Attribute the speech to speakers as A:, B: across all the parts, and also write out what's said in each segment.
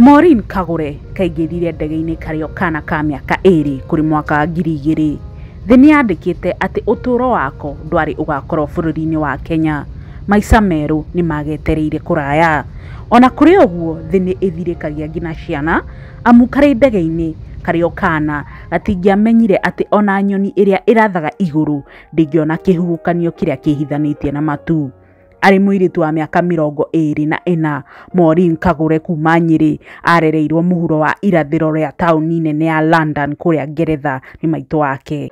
A: Maureen Kagure kaingĩrire ndege-inĩ karĩ o kaana ka mĩaka ĩĩrĩ kũrĩ mwaka wa ngiri igĩrĩ. Thĩ nĩ yandĩkĩte atĩ ũtũũro wako ndwarĩ ũgaakorũo bũrũri-inĩ wa Kenya. Maica merũ nĩ maagetereire kũraya. O na kũrĩ ũguo, thĩ nĩ ĩthirĩkagia nginya ciana amu karĩ ndege-inĩ karĩ o kaana, gatingĩamenyire atĩ o na nyoni ĩrĩa ĩrathaga igũrũ ndĩngĩona kĩhuhũkanio kĩrĩa kĩĩhithanĩtie na matu. Arĩ mũirĩtu wa mĩaka mĩrongo ĩĩrĩ na ĩna, Maureen Kagure kuuma Nyeri, aarereirũo mũhuro wa irathĩro rĩa taũni nene ya London kũrĩa Ngeretha nĩ maitũ wake.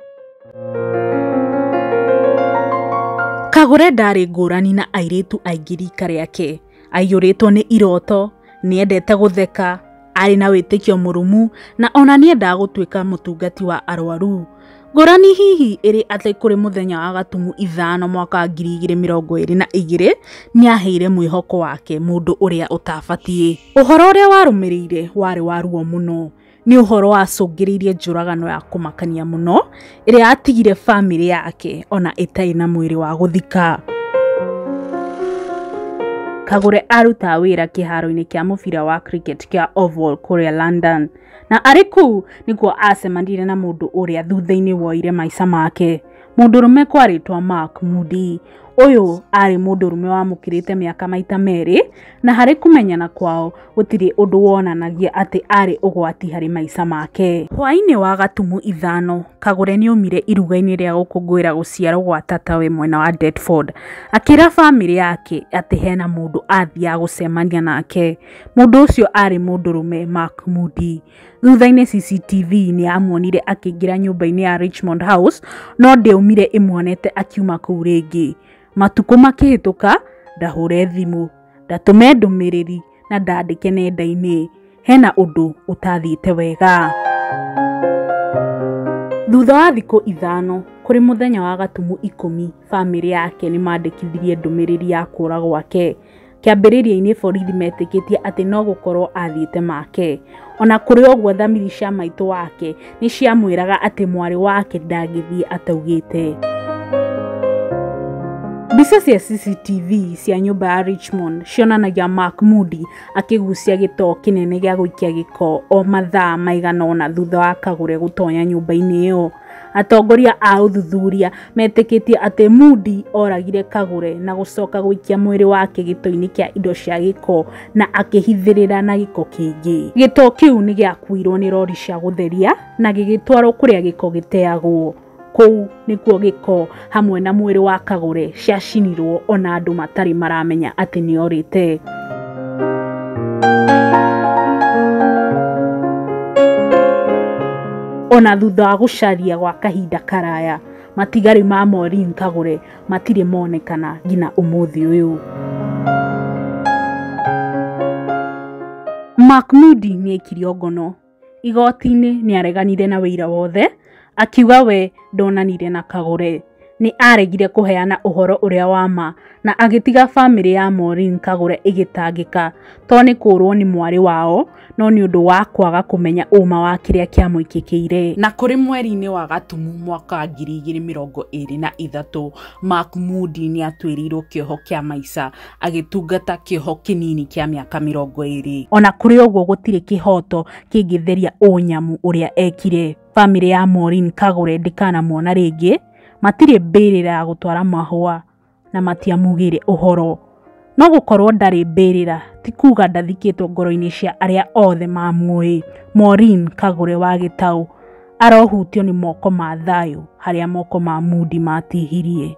A: Kagure ndaarĩ ngũrani na airĩtu aingĩ riika rĩake. Aaiyũrĩtwo nĩ iroto, nĩ eendete gũtheka, aarĩ na wĩtĩkio mũrũmu, na o na nĩ eendaga gũtuĩka mũtungati wa arũaru. Ngũrani hihi ĩrĩ atĩ kũrĩ mũthenya wa gatumu ithano mwaka wa ngiri igĩrĩ mĩrongo ĩrĩ na igĩrĩ nĩaheire mwĩhoko wake mũndũ ũrĩa ũtabatiĩ. Ũhoro ũrĩa warũmĩrĩire warĩ wa ruo mũno. Nĩ ũhoro wacũngĩrĩirie njũragano ya kũmakania mũno ĩrĩa yatigire famĩlĩ yake ona ĩtarĩ na mwĩrĩ wa gũthika. Kagure arutaga wĩra kĩharo-inĩ kĩa mũbira wa cricket kĩa Oval kũrĩa London. Na arĩ kũu nĩkuo aacemanire na mũndũ ũrĩa thutha-inĩ woire maica make, mũndũrũme kwa rĩtwa Mark Moody. Ũyũ aarĩ mũndũrũme wamũkĩrĩte mĩaka maita merĩ, na harĩ kũmenyana kwao gũtirĩ ũndũ wonanagia atĩ aarĩ ũgwati harĩ maica make. Hwaĩ-inĩ wa Gatumu ithano, Kagure nĩ oimire iruga-inĩ rĩa gũkũngũĩra gũciarũo gwa tatawe mwena wa Deptford. Akĩra famĩlĩ yake atĩ hena mũndũ aathiaga gũcemania nake. Mũndũ ũcio aarĩ mũndũrũme Mark Mudi. Thutha-inĩ CCTV nĩ yamuonire akĩingĩra nyũmba-inĩ ya Richmond House, no ndĩaumire ĩmuonete akiuma kũu rĩngĩ. Matukũ makĩhĩtũka, ndahũre thimũ, ndatũme ndũmĩrĩri na ndandĩke nenda-inĩ. Hena ũndũ ũtathiĩte wega. Thutha wa thikũ ithano, kũrĩ mũthenya wa gatumu ikũmi, famĩlĩ yake nĩ mandĩkithirie ndũmĩrĩri ya kũũra gwake. Kĩambĩrĩria-inĩ borithi metĩkĩtie atĩ no gũkorũo aathiĩte Makee. O na kũrĩ ũguo, thamiri cia maitũ wake nĩ ciamwĩraga atĩ mwarĩ wake ndangĩthiĩ ataugĩte. Mbica cia CCTV cia nyũmba ya Richmond cionanagia Mark Moody akĩgucia gĩtoo kĩnene gĩa gũikia gĩko o mathaa maigana ũna thutha wa Kagure gũtonya nyũmba-inĩ ĩyo. Atongoria a ũthuthuria metĩkĩtie atĩ Mudi oragire Kagure na gũcoka gũikia mwĩrĩ wake gĩto-inĩ kĩa indo cia gĩko na akĩhithĩrĩra na gĩko kĩingĩ. Gĩto kĩu nĩ gĩakuirũo nĩ rori cia gũtheria na gĩgĩtwarũo kũrĩa gĩko gĩteagwo. Kũu nĩkuo gĩko hamwe na mwĩrĩ wa Kagore ciacinirwo ona andũ matarĩ maramenya atĩ nĩ orĩte. Ona thutha wa gũcaria gwa kahinda karaya, matigari ma Maureen Kagore matirĩ monekana nginya ũmũthĩ ũyũ. Mark Moody nĩ aikirio ngono Igoti-inĩ nĩ areganire na ũira wothe akiuga we ndonanire na Kagore. Nĩ aaregire kũheana ũhoro ũrĩa wa ma na agĩtiga famĩlĩ ya Maureen Kagore ĩgĩtangĩka to nĩ kũũrũo nĩ mwarĩ wao no nĩ ũndũ wa kwaga kũmenya ũũma wa kĩrĩa kĩamũĩkĩkĩire. Na kũrĩ mweri-inĩ wa Gatumu mwaka wa ngiri igĩrĩ mĩrongo ĩrĩ na ithatũ, Mahmoud nĩ atuĩrĩirũo kĩoho kĩa maica agĩtungata kĩoho kĩnini kĩa mĩaka mĩrongo ĩrĩ. Ona kũrĩ ũguo gũtirĩ kĩhoto kĩngĩtheria ũnyamũ ũrĩa ekire. Famĩlĩ ya Maureen Kagure ndĩkanamuona rĩngĩ, matirĩ mbĩrĩra ya gũtwara mahũa na matiamugĩire ũhoro. No gũkorwo ndarĩ mbĩrĩra ti kuga ndathikĩtwo ngoro-inĩ cia arĩa othe mamuĩ. Maureen Kagure wa Gĩtaũ arohutio nĩ moko ma thayũ harĩa moko ma Mudi matihirie.